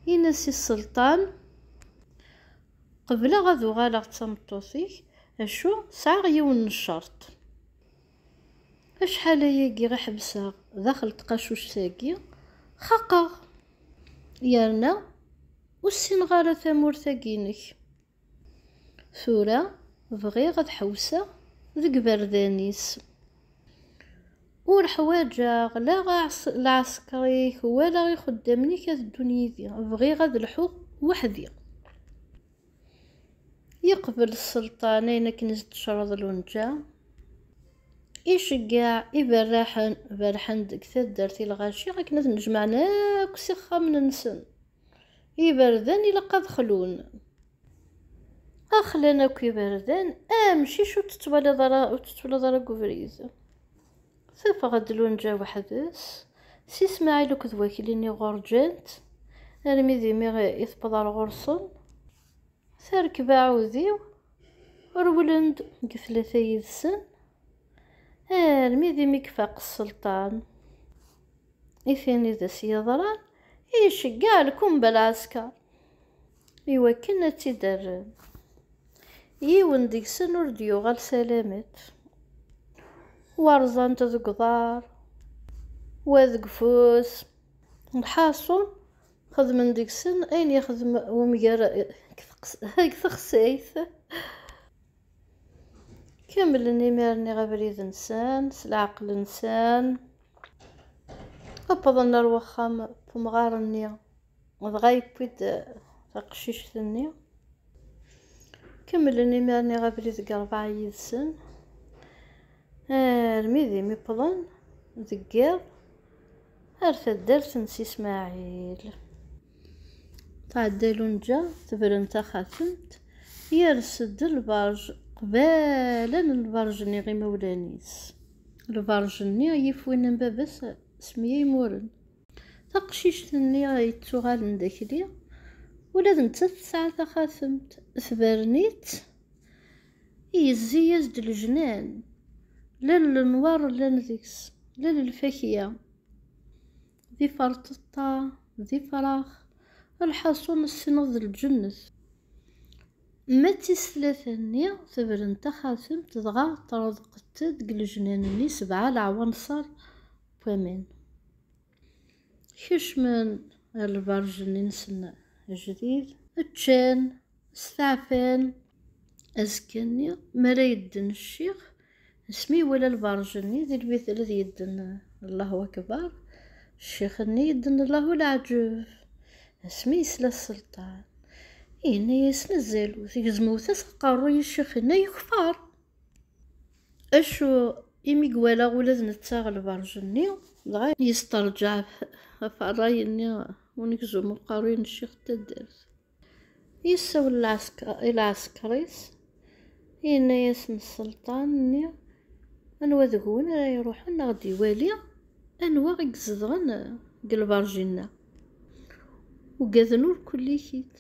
Yenna-s i sselṭan, Qebleɣ ad uɣaleɣ d tameṭṭut-ik, acu sɛiɣ yiwen n ccerṭ. Acḥal ayagi i ḥebseɣ daxel tqacuct-agi, xaqeɣ, yerna ur ssineɣ ara tamurt-agi-inek. Tura bɣiɣ ad ḥewseɣ deg iberdan-is. Ur ḥwaǧeɣ la lɛesker-ik wala ixeddamen-ik ad ddun yid-i, bɣiɣ ad lḥuɣ weḥd-i. Yeqbel Sselṭan ayen akken i s-d-tecreḍ Lunǧa, iceggeɛ iberraḥen berrḥen deg taddart i lɣaci akken ad ten-jemɛen akk s ixxamen-nsen. Iberdan ilaq ad xlun. A xlan akk iberdan, a amcic ur t-twalaḍ ara, ur t-twalaḍ ara deg ubrid. Tafeɣ-d Lunǧa weḥd-s, si Smaɛil akked wakli-nni ɣur ǧǧan-tt, armi d imi i tewweḍ ar ɣur-sen, terkeb aɛudiw, rewlen-d deg tlata yid-sen, armi d imi ifaq sselṭan. i tin i d as-yeḍran, i iceggeɛ lkumba lɛesker i wakken ad tt-id-rren. Yiwen deg-sen ur d-yuɣal salamet, wa rẓan-t deg uḍar, wa deg ufus, lḥaṣun xedmen deg-sen ayen yexdem umger deg texsayt. Kamlen imir-nni abrid-nsen s leɛqel-nsen, wwḍen ar wexxam n umɣar-nni, dɣa yewwi-d taqcict-nni. Kemmlen imir-nni abrid deg rebɛa yid-sen, armi d imi wwḍen deg yiḍ ar taddart n Si Smaɛil. Tɛedda Lunǧa tebren taxatemt, yers-d lberǧ qbala n lberǧ-nni imawlan-is. Lberǧ-nni yif win n baba-s Semyaymuren. Taqcict-nni yettuɣalen d akli, ula d nettat tesɛa taxatemt, tebren-itt, yezzi-yas-d lejnan, llan lenwaṛ llan deg-s, llan lfakya. d iferṭeṭṭa, d ifrax, lḥaṣun ssneɣ d lǧennet. Ma d tis tlata-nni, tebren taxatemt dɣa ṭreḍqet deg lejnan-nni sebɛa leɛwanṣer n waman. Kecmen ar lberǧ-nni-nsen ajdid, ččan, Steɛfan. Azekka-nni, mi ara yedden ccix, asmi iwala lberǧ-nni di lbitel ad yedden Allahu Akbar, ccix-nni yedden Allahu Laɛǧeb. Asmi yesla Sselṭan, yenna-yas mazal ur tegzmew-as aqerruy i ccix-nni yekfeṛ. Acu imi iwala ula d netta lberǧ-nni, dɣa yesteṛǧaɛ ɣef ṛṛay-nni unegzum n uqerruy n ccix n taddart. Yessawel i lɛesker-is, yenna-yasen sselṭan-nni, Anwa deg-wen ara iruḥen ad ɣ-d-iwali anwa i izedɣen deg lberǧ-inna? Ugaden ur kullikit.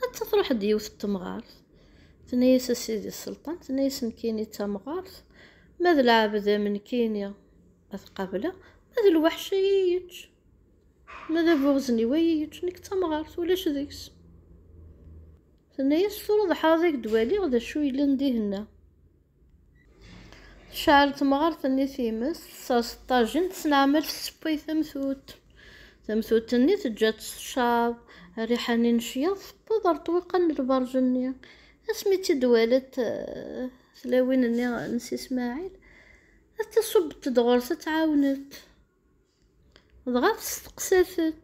Atta truḥ-d yiwet n temɣart, tenna-yas a sidi sselṭan, tenna-yas nekkini d tamɣart, ma d lɛebd am nekkini ad t-qableɣ, ma d lweḥc ad iyi-yečč. Ma d abuɣzen-iw ay iyi-yeččen, nekk d tamɣart, ulac deg-s. Tenna-as, tura d ḥraḍ i k-d-waliɣ, d acu yellan dihin-a? Tecɛel temɣart-nni times, tessers ṭṭajin, tesneɛmal tseppay tamtutt. Tamtutt-nni teǧǧa-tt teccaḍ, rriḥa-nni n ccyaḍ tewweḍ ɣer ṭṭwiqan n lberǧ-nni. Asmi i tt-id-walant eh, tlawin-nni n Si Smaɛil, ad taṣubbet-d ɣur-s ad tɛawnet. Dɣa testeqsa-t-ed.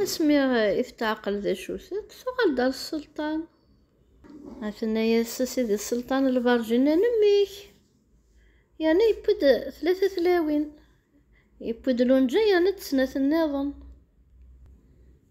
Asmi i tetɛeqqel d acu-tent, tuɣal-d ar sselṭan. A tenna-yas, a sidi sselṭan, lberǧ-nni n mmi-k. Yerna yewwi-d tlata tlawin. Yewwi-d lunǧa yerna-d snat nniḍen.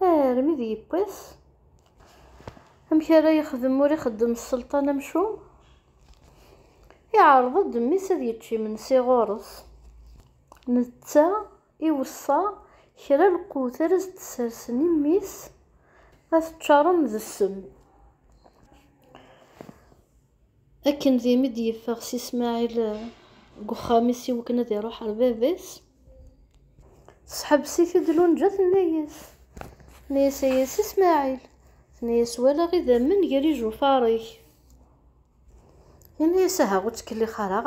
Armi d yiwwas. Amek ara yexdem ur ixeddem sselṭan amcum? Iɛreḍ-d mmi-s ad yečč imensi ɣur-s. Netta iweṣṣa kra lqut ara s-d-sersen i mmi-s ad t-ččaren d ssem. Akken d imi d-yeffeɣ si Smaɛil deg uxxam-is i wakken ad iruḥ ɣer baba-s, tesḥebbes-it-id Lunǧa tenna-yas, tenna-yas ay a si Smaɛil, tenna-yas walaɣ idammen gar ijufaṛ-ik. Yenna-yas aha ur ttkellix ara,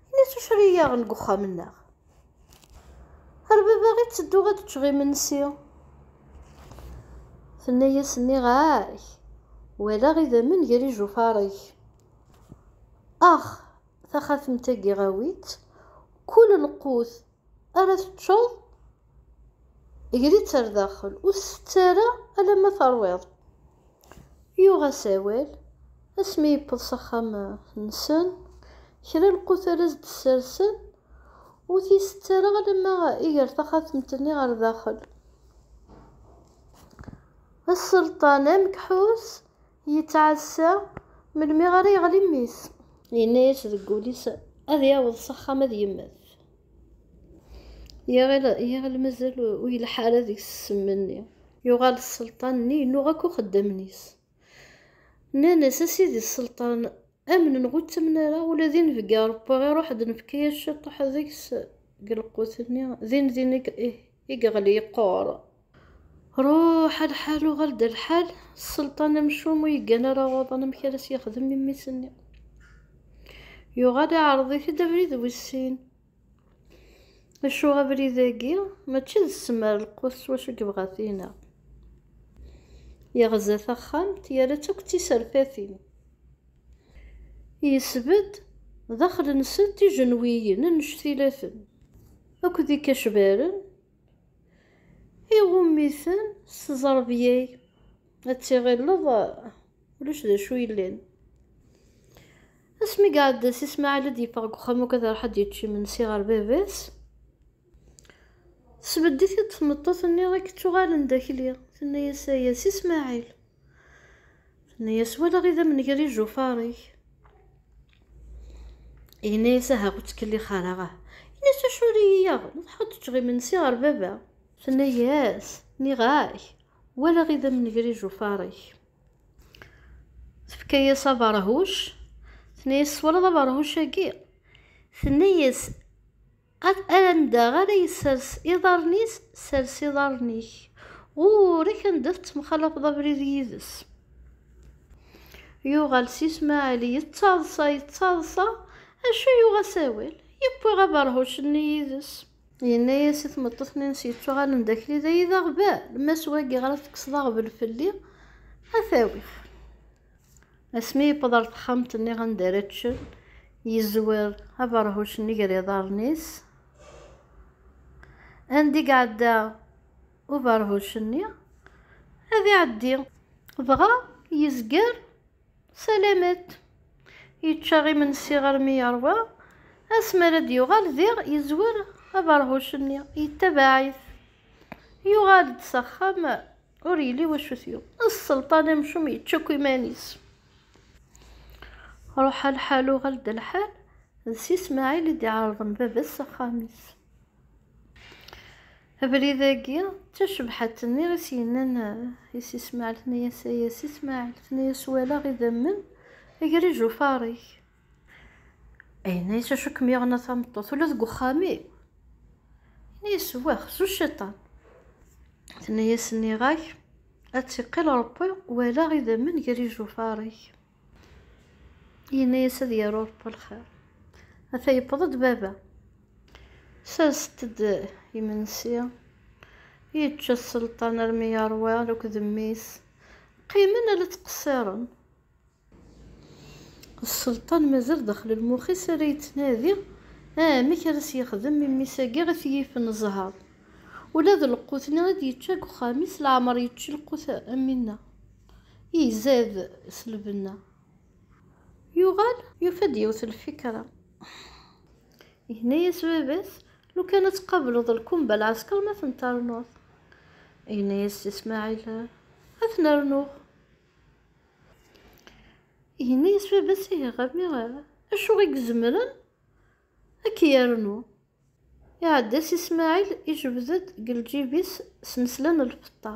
yenna-yas ucri-yaɣ deg uxxam-nneɣ. Ar baba i ttedduɣ ad ččeɣ imensi. Tenna-yas nniɣ-ak, walaɣ idammen gar ijufaṛ-ik. Ax, taxatemt-agi awi-tt, kul lqut ara teččeḍ gri-tt ar daxel, ur tt-tett ara alamma teṛwiḍ. Yuɣ-as awal, asmi yewweḍ s axxam-nsen, kra lqut ara s-d-ssersen, Ur t-isett ara alamma iger taxatemt-nni ɣer daxel. Asselṭan amekḥus yettɛassa melmi ara yeɣli mmi-s. Yenna-yas deg wul-is ad yaweḍ s axxam ad yemmet. Iɣil mazal ur yelḥa ara deg-s ssem-nni. Yuɣal sselṭan-nni yennuɣ akk uxeddam-is. Nnan-as, A sidi sselṭan, amnen ur ttamen ara, ula d inebgi arebbaɣ iruḥ-d nefka-yas ciṭuḥ deg-s deg lqut-nni, din din i yeɣli yeqqur. Ruḥ a lḥal uɣal-d a lḥal, sselṭan amcum ur yeggan ara uḍan amek ara s-yexdem i mmi-s-nni. Yuɣal iɛreḍ-it-id abrid wis sin. Acu abrid-agi mačči d ssem ar lqut s wacu yebɣa ad t-ineɣ. Yeɣza taxxamt yerra-tt akk d tiserfatin. Yesbedd daxel-nsent ijenwiyen annect-ilaten akked ikacbaren iɣumm-iten s tẓerbya-k ad tiɣilleḍ ulac d acu yellan asmi iɛedda si Smaɛil ad yeffeɣ deg uxxam akk ad iruḥ ad yečč imensi ɣer baba-s tesbedd-it-id tmeṭṭut-nni i yettuɣalen d akli tenna-yas aya si Smaɛil tenna-yas walaɣ idammen gar ijufaṛ-ik yenna-yas aha ur ttkellix ara ah yenna-yas acu ara iyi-yaɣ ruḥeɣ ad ččeɣ imensi ɣer baba tenna-yas nniɣ-ak walaɣ idammen gar ijufaṛ-ik tefka-yas aberhuc tenna-yas twalaḍ aberhuc-agi tenna-yas anda ara yessers iḍarren-is sers iḍarren-ik ɣur-k anda tettemxalaḍ abrid yid-s yuɣal si Smaɛil yettaḍsa yettaḍsa acu yuɣ asawal yewwi aberhuc-nni yid-s Yenna-yas i tmeṭṭut-nni-ines yettuɣalen d akli, d ay d aɣbel, ma s wagi ɣer ad tekkseḍ aɣbel fell-i, ad t-awiɣ. Asmi yewweḍ ɣer texxamt-nni anda ara ččen, yezwer aberhuc-nni gar yiḍarren-is. Anda i iɛedda uberhuc-nni, ad iɛeddi. Dɣa yezger Salamat! Yečča imensi armi yeṛwa, asmi ara d-yuɣal diɣ yezwer abeṛhuc-nni, yettabaɛ-it. Yuɣal-d s axxam, ur yelli wacu t-yuɣ. Sselṭan amcum yečča akk iman-is. Ruḥ a lḥal uɣal-d lḥal, d Si Smaɛil i d-iɛerḍen baba-s s axxam-is. Abrid-agi, d tacebḥat-nni i s-yennan i Si Smaɛel, tenna-yas, ay a Si Smaɛel, tenna-yas, walaɣ idammen, ager-ij ufaṛ-ik. Yenna-yas, acu kem-yuɣen a tameṭṭut, ula deg uxxam-iw? Yenna-yas, wah, s uciṭan. Tenna-yas, nniɣ-ak, ad tt-iqqil Ṛebbi, walaɣ idammen gar-ij ufaṛ-ik. Yenna-yas ad yaru Ṛebbi lxir. Ata yewweḍ-d baba. Serset-d imensi. Yečča sselṭan armi yeṛwa akked mmi-s. Qqimen ala ttqessiṛen. Sselṭan mazal daxel lmux-is ara yettnadi amek ara as-yexdem i mmi-s agi i t-yifen zzheṛ. Ula d lqut-nni i d-yečča deg uxxam-is leɛmeṛ yečči lqut am winna. Izad s lbenna. Yuɣal yufa-d yiwet n lfikra. Yenna-yas baba-s, Lukan ad tqableḍ lkumba n lɛesker ma ten-ternuḍ. Yenna-yas Si Smaɛil, Ad ten-rnuɣ. Yenna-yas baba-s, Ihi a mmi, acu i izemren ad k-yernu? Iɛedda Si Smaɛil, ijbed-d deg lǧib-is snesla n lfeṭṭa.